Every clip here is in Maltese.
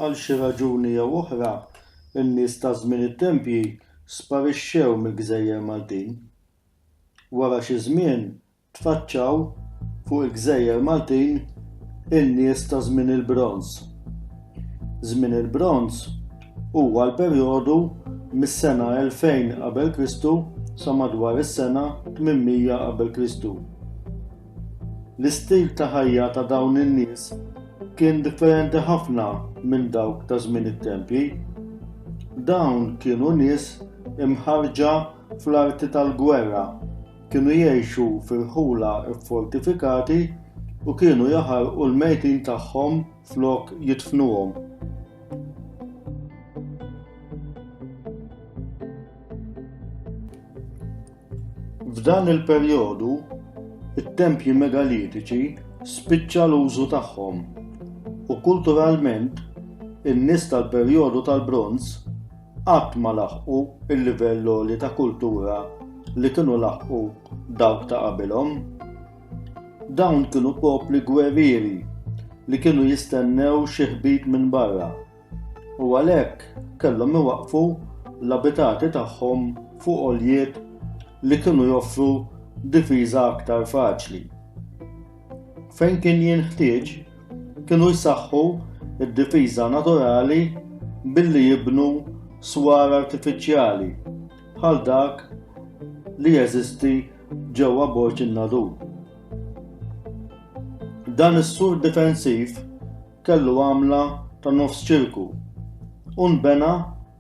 Għal xi raġuni jew oħra, in-nies ta' żmien it-tempji sparixxew mill-gżejjer Maltin. Wara xi żmien tfaċċaw fuq il-gżejjer Maltin in-nies ta' żmien il-Bronż. Żmien il-Bronż huwa l-perjodu mis-sena 2000 Qabel Kristu sa madwar is-sena 800 Qabel Kristu. L-istil ta' ħajja ta' dawn in-nies kien differenti ħafna minn dawk ta' żmien it-tempji. Dawn kienu nies imħarrġa fl-arti tal-gwerra, kienu jgħixu f'irħula ffortifikati u kienu jaħarqu l-mejtin tagħhom flok jidfnuhom. F'dan il-perjodu, it-tempji megalitiċi spiċċa l-użu tagħhom, u kulturalment in-nies tal-perjodu tal-Bronż qatt ma laħqu l-livell għoli ta' kultura li kienu laħqu dawk ta' qabilhom. Dawn kienu popli gwerrieri li kienu jistennew xi ħbib minn barra. u għalhekk kellhom iwaqqfu l-abitati tagħhom fuq għoljiet li kienu joffru difiża aktar faċli. Fejn kien jinħtieġ, kienu jsaħħu id-difiża naturali billi jibnu swar artifiċjali bħal dak li jeżisti ġewwa Borġ in-Nadur. Dan is-sur difensiv kellu għamla ta' nofs ċirku u nbena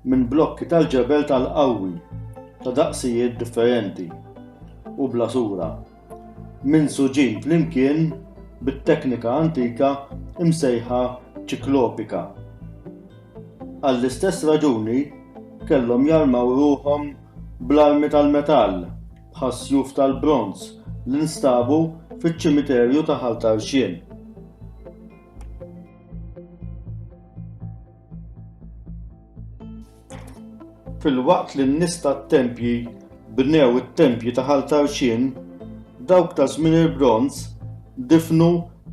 minn blokki tal-ġebel tal-qawwi ta' daqsijiet differenti u bla sura, minsuġin flimkien bit-teknika antika msejħa ċiklopika. Għall-istess raġuni kellhom jarmaw ruħhom bl-armi tal-metall bħas-sjuf tal-bronż li nstabu fiċ-ċimiterju ta' Ħal Tarxien. Filwaqt li n-nies tat-tempji bnew it-tempji ta' Ħal Tarxien, dawk ta' żmien il-bronż difnu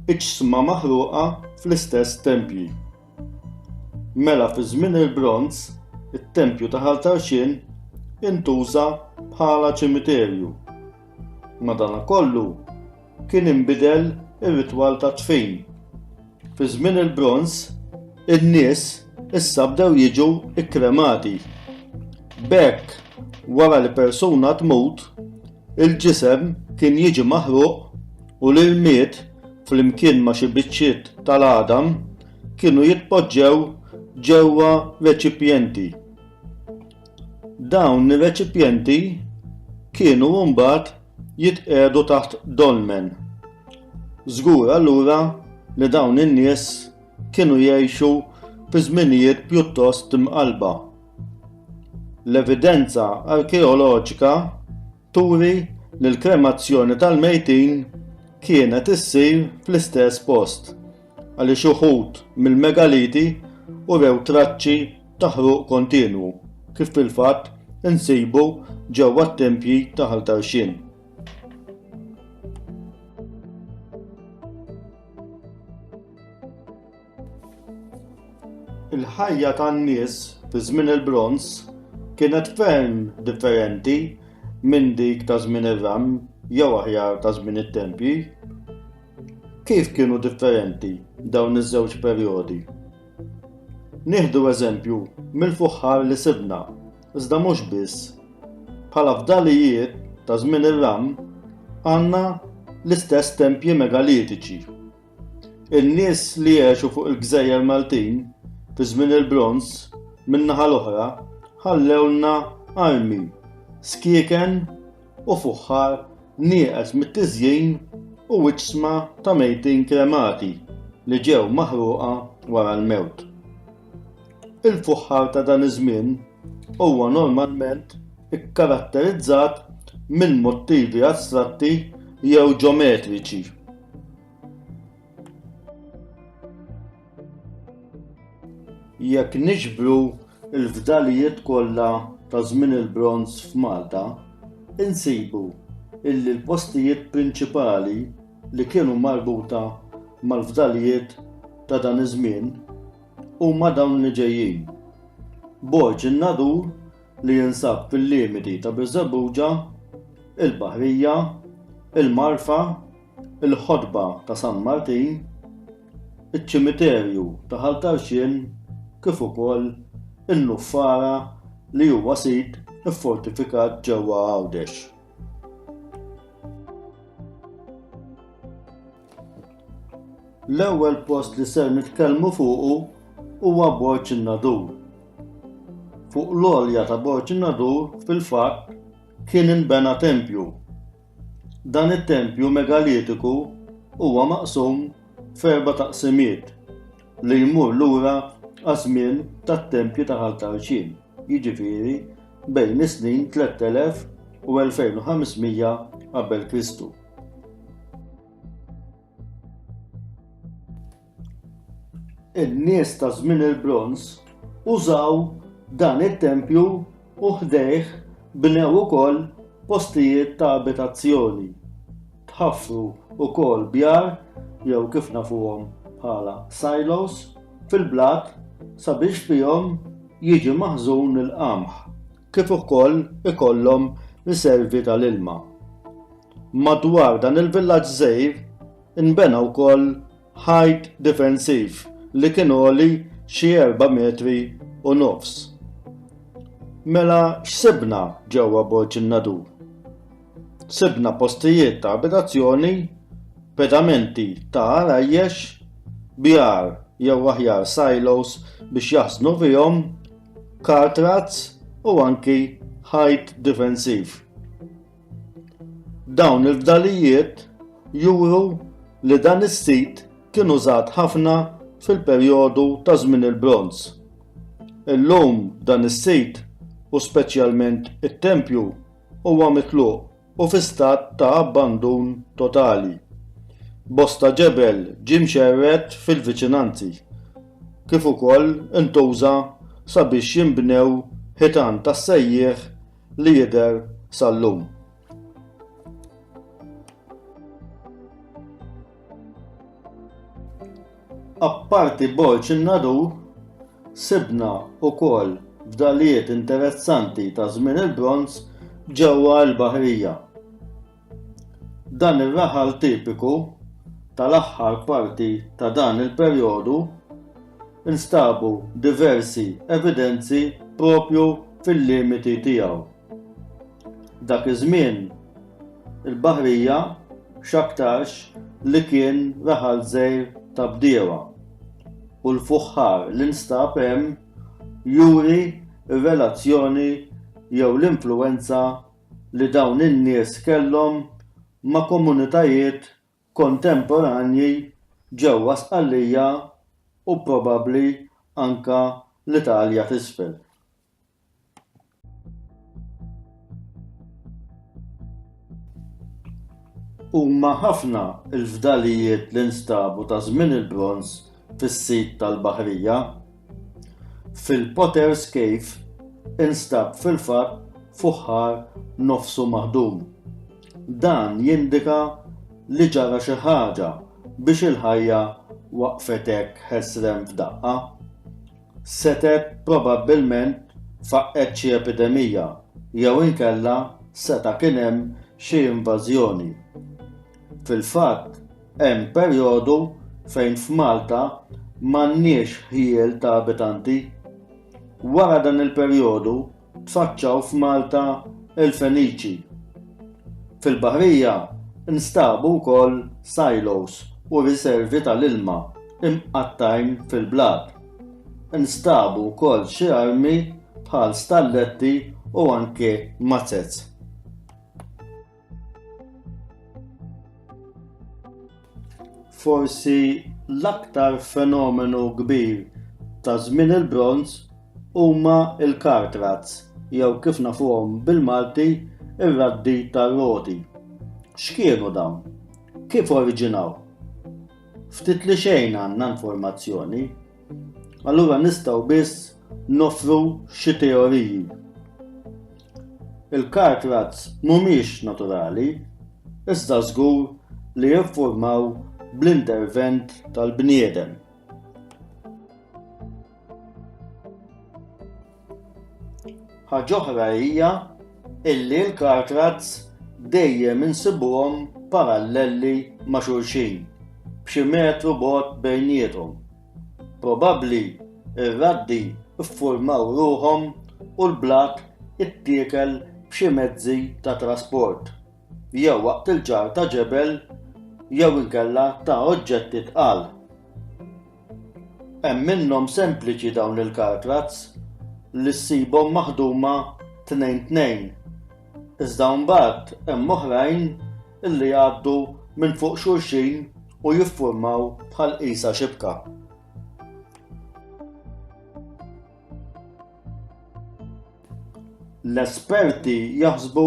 iġsma maħruqa fl-istess tempji. Mela fi żmien il-Bronż, it-tempju ta' Ħal Tarxien intuża bħala ċimiterju. Madankollu, kien inbidel ir-ritwal ta' dfin. Fi żmien il-Bronż, in-nies issa bdew jiġu kkremati. B'hekk, wara li persuna tmut, il-ġisem kien jiġi maħruq u l-irmied flimkien ma' xi biċċiet tal-għadam, kienu jitpoġġew ġewwa reċipjenti. Dawn ir-reċipjenti kienu mbagħad jitqiegħdu taħt dolmen. Żgur allura li dawn in-nies kienu jgħixu fi żminijiet pjuttost imqalba. L-evidenza arkeoloġika turi li l-kremazzjoni tal-mejtin kienet issir fl-istess post għaliex uħud mill-megaliti urew traċċi ta' ħruq kontinwu kif fil-fatt insibu ġewwa t-tempji ta' Ħal Tarxien. Il-ħajja tan-nies fi żmien il-Bronż kienet ferm differenti minn dik ta' żmien ir-Ram jew aħjar ta' żmien it-tempji. Kif kienu differenti dawn iż-żewġ perjodi? Nieħdu eżempju mill-fuħħar li sibna, iżda mhux biss. Bħala fdalijiet ta' żmien ir-Ram għandna l-istess tempji megalitiċi. In-nies li għexu fuq il-gżejjer Maltin fi żmien il-Bronż, min-naħa l-oħra, ħallewlna armi, skieken u fuħħar nieqes mit-tiżjin u iġsma ta' mejtin kremati li ġew maħruqa wara l-mewt. Il-fuħħar ta' dan iż-żmien huwa normalment ikkaratterizzat minn mottivi astratti jew ġometriċi. Jekk niġbru l-fdalijiet kollha ta' żmien il-Bronż f'Malta, insibu illi l-postijiet prinċipali li kienu marbuta mal-fdalijiet ta' dan iż-żmien huma dawn li ġejjin, Borg in-Nadur li jinsab fil-limiti ta' Birżebbuġa, il-Baħrija, il-Marfa, il-Ħotba ta' San Martin, iċ-Ċimiterju ta' Ħal Tarxien kif ukoll in-Nuffara li huwa sit iffortifikat ġewwa Għawdex. L-ewwel post li ser nitkellmu fuqu huwa Borġ in-Nadur. Fuq l-għolja ta' Borġ in-Nadur fil-fatt kien inbena tempju. Dan it-tempju megalitiku huwa maqsum f'erba' taqsimiet li jmur lura għaż-żmien tat-tempji ta' Ħal Tarxin, jiġifieri bejn is-snin 3000 u 2500 qabel Kristu. in-nies ta' żmien il-bronż użaw dan it-tempju u ħdejh bnew ukoll postijiet ta' abitazzjoni. Tħaffru wkoll bjar jew kif nafuhom bħala silos fil-blat sabiex fihom jiġi maħżun il-qamħ. kif ukoll ikollhom riservi tal-ilma. Madwar dan il-villaġġ żgħir inbena wkoll ħajt difensiv li kien għoli xi erba' metri u nofs. Mela x'sibna ġewwa Borġ in-Nadur? Sibna postijiet ta' abitazzjoni, pedamenti ta' għarajjex, bjar jew aħjar silos biex jaħżnu fihom kart razz u anki ħajt difensiv. Dawn il-fdalijiet juru li dan is-sit kien użat ħafna fil-perjodu ta' żmien il-bronz. Illum dan is-sit u speċjalment it-tempju huwa mitluq u fi stat ta' abbandun totali. Bosta ġebel ġie mxerred fil-viċinanzi, kif ukoll intuża sabiex jinbnew ħitan tas-sejjieħ li jidher sal-lum. Apparti Borg in-Nadur, sibna wkoll fdalijiet interessanti ta' żmien il-Bronż ġewwa l-Baħrija. Dan ir-raħal tipiku tal-aħħar parti ta' dan il-perjodu nstabu diversi evidenzi proprju fil-limiti tiegħu. Dak iż-żmien, il-baħrija x'aktarx li kien raħal żgħir ta' bdiewa, u l-fuħħar li nstab hemm juri r-relazzjoni jew l-influwenza li dawn in-nies kellhom ma' komunitajiet kontemporanji ġewwa Sqallija u probabbli anke l-Italja t'Isfel. Huma ħafna l-fdalijiet li nstabu ta' żmien il-bronż fis-sit tal-baħrija. Fil-Potter's Cave instab fil-fatt fuħħar nofsu maħdum. Dan jindika li ġara xi ħaġa biex il-ħajja waqfet hekk ħesrem f'daqqa. setgħet probabbilment faqqgħet xi epidemija jew inkella seta' kien hemm xi invażjoni. Fil-fatt, hemm perjodu fejn f'Malta m'għandniex ħjiel ta' abitanti. Wara dan il-perjodu, tfaċċaw f'Malta il-Feniċi. Fil-baħrija nstabu wkoll silos u riservi tal-ilma imqattgħin fil-blat. Nstabu wkoll xi armi bħal stalletti u anke mazzez. Forsi l-aktar fenomenu kbir ta' żmien il-bronz huma l-kartrazz jew kif nafuhom bil-Malti ir-raddi tar-roti. X'kienu dawn? Kif oriġinaw? Ftit li xejn għandna informazzjoni Allura nistgħu biss nofru xi teoriji. Il-kart razz mhumiex naturali, iżda żgur li jiffurmaw bl-intervent tal-bniedem. Ħaġa oħra hija illi l-car tracks dejjem insibuhom paralleli ma' xulxin, b'xi metru bogħod bejniethom. Probabbli r-raddi ffurmaw ruħhom u l-blat ittiekel b'xi mezzi ta' trasport, jew waqt il-ġarr ta' ġebel jew inkella ta' oġġetti tqal. Hemm minnhom sempliċi dawn il-kartlats li ssibhom maħduma tnejn tnejn, iżda mbagħad hemm oħrajn li jgħaddu minn fuq xulxin u jiffurmaw bħal qisha xibka. L-esperti jaħsbu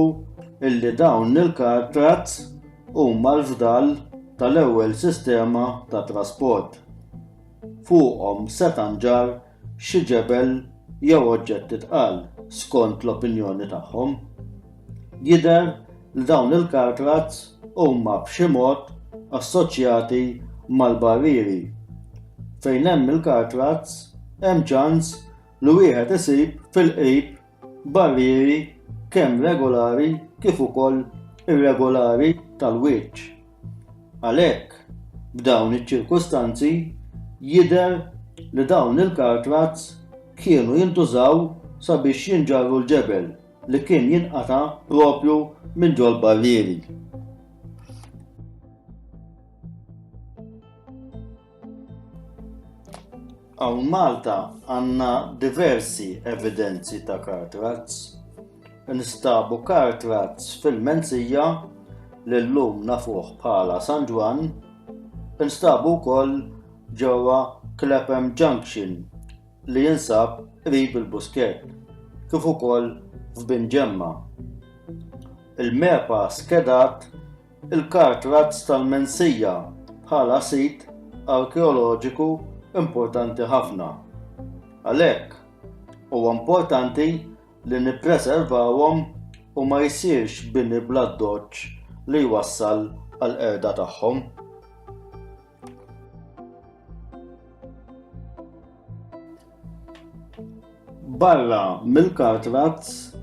illi dawn il-kartrazz huma l-fdal tal-ewwel sistema ta' trasport. Fuqhom seta' nġarr xi ġebel jew oġġetti tqal, skont l-opinjoni tagħhom. Jidher li dawn il-cartlots huma b'xi mod assoċjati mal-barrieri. Fejn hemm il-cartlots, hemm ċans li wieħed isib fil-qrib barrieri kemm regolari kif ukoll irregolari tal-wiċċ. Għalhekk, b'dawn iċ-ċirkustanzi, jidher li dawn il-cartlots kienu jintużaw sabiex jinġarru l-ġebel. li kien jinqata' proprju minn ġol-barrieri. Hawn Malta għandna diversi evidenzi ta' kartrazz. Nistabu kartrazz fil-Menzija li llum nafuh bħala San Ġwann, instabu wkoll ġewwa Clapham Junction li jinsab qrib il-Buskett, kif ukoll f'Bin Ġemma. Il-MEPA skedat il-Kart Razz tal-Mensija bħala sit arkeoloġiku importanti ħafna. Għalhekk, huwa importanti li nippreservawhom u ma jsirx bini bl-addoċċ li jwassal għall-qerda tagħhom. Barra mill-kartrazz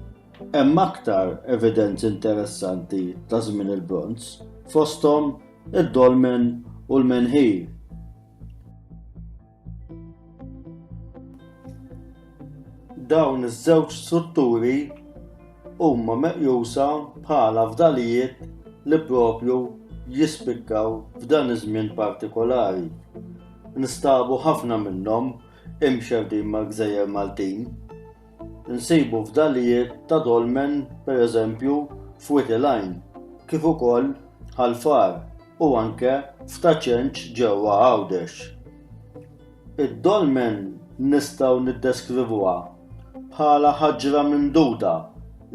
hemm aktar evidenzi interessanti ta' żmien il-Bronż, fosthom id-dolmen u l-menħir. Dawn iż-żewġ strutturi huma meqjusa bħala fdalijiet li proprju jispikkaw f'dan iż-żmien partikolari. Nstabu ħafna minnhom imxerrdin mal-gżejjer Maltin. Insibu fdalijiet ta' dolmen, per eżempju, f'Wied il-Għajn, kif ukoll Ħal Far u anke f'Ta' Ċenċ ġewwa Għawdex. Id-dolmen nistgħu niddeskrivuha bħala ħaġra mimduda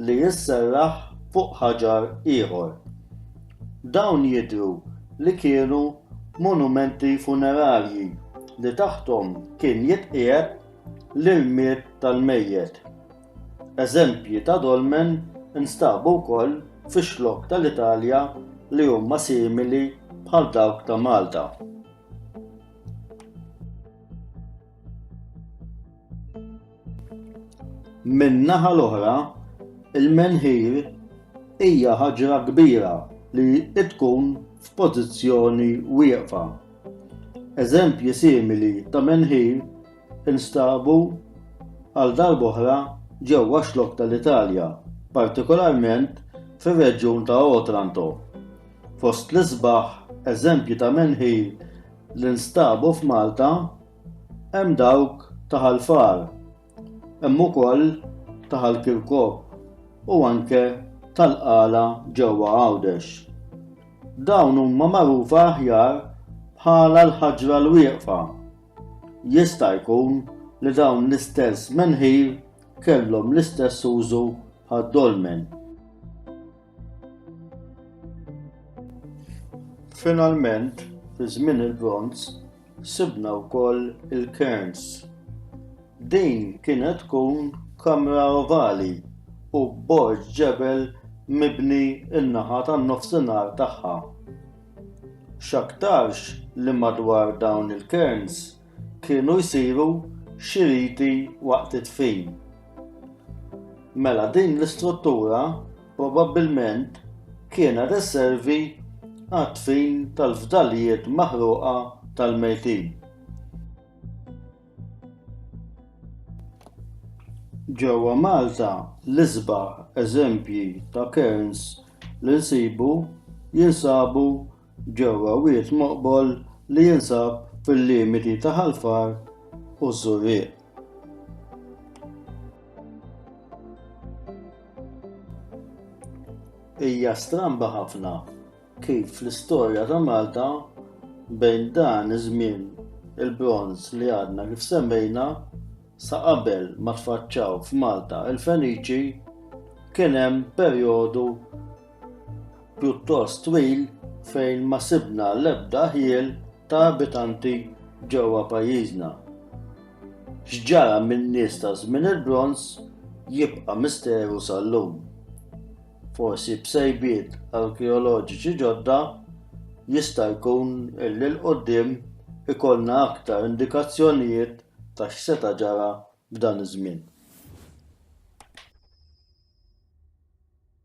li sserraħ fuq ħaġar ieħor. Dawn jidhru li kienu monumenti funerarji li taħthom kien jitqiegħed l-ilmiet tal-mejjet. Eżempji ta' dolmen instabu wkoll fi xlokk tal-Italja li huma simili bħal dawk ta' Malta. Min-naħa l-oħra, il-menħir hija ħaġra kbira li tkun f'pożizzjoni wieqfa. Eżempji simili ta' menħir instabu għal darb'oħra ġewwa xlokk tal-Italja, partikolarment fir-reġjun ta' Otranto. Fost l-isbaħ eżempji ta' menħir li nstabu f'Malta hemm dawk ta' Ħal Far, Hemm ukoll taħal Kirkop u anke tal-qala ġewwa Għawdex. Dawn huma magħrufa aħjar bħala l-ħaġra l-wieqfa. Jista' jkun li dawn l-istess menħir kellhom l-istess użu għad-dolmen. Finalment, fi żmien il-bronz, Sibna wkoll il-Cairns. Din kienet tkun kamra ovali u borġ ġebel mibni n-naħa tan-nofsinhar tagħha. X'aktarx li madwar dawn il-Cairns kienu jsiru xi riti waqt id-dfin. Mela din l-istruttura Probabbilment kienet isservi għad-dfin tal-fdalijiet maħruqa tal-mejtin. Ġewwa Malta, l-isbaħ eżempji ta' cairns li nsibu jinsabu ġewwa wied moqbol li jinsab fil-limiti ta' Ħal Far u ż-Żurrieq. Hija stramba ħafna kif fl-istorja ta' Malta bejn dan iż-żmien il-bronż li għadna kif semmejna sa qabel ma tfaċċaw f'Malta il-Feniċi kien hemm perjodu pjuttost twil fejn ma sibna l-ebda ħjiel ta' abitanti ġewwa pajjiżna. X'ġara min-nies ta' żmien il-bronż jibqa' misteru sal-lum. Forsi b'sejbiet arkeoloġiċi ġodda jista' jkun illi l-qudiem ikollna aktar indikazzjonijiet ta' x'seta' ġara f'dan iż-żmien.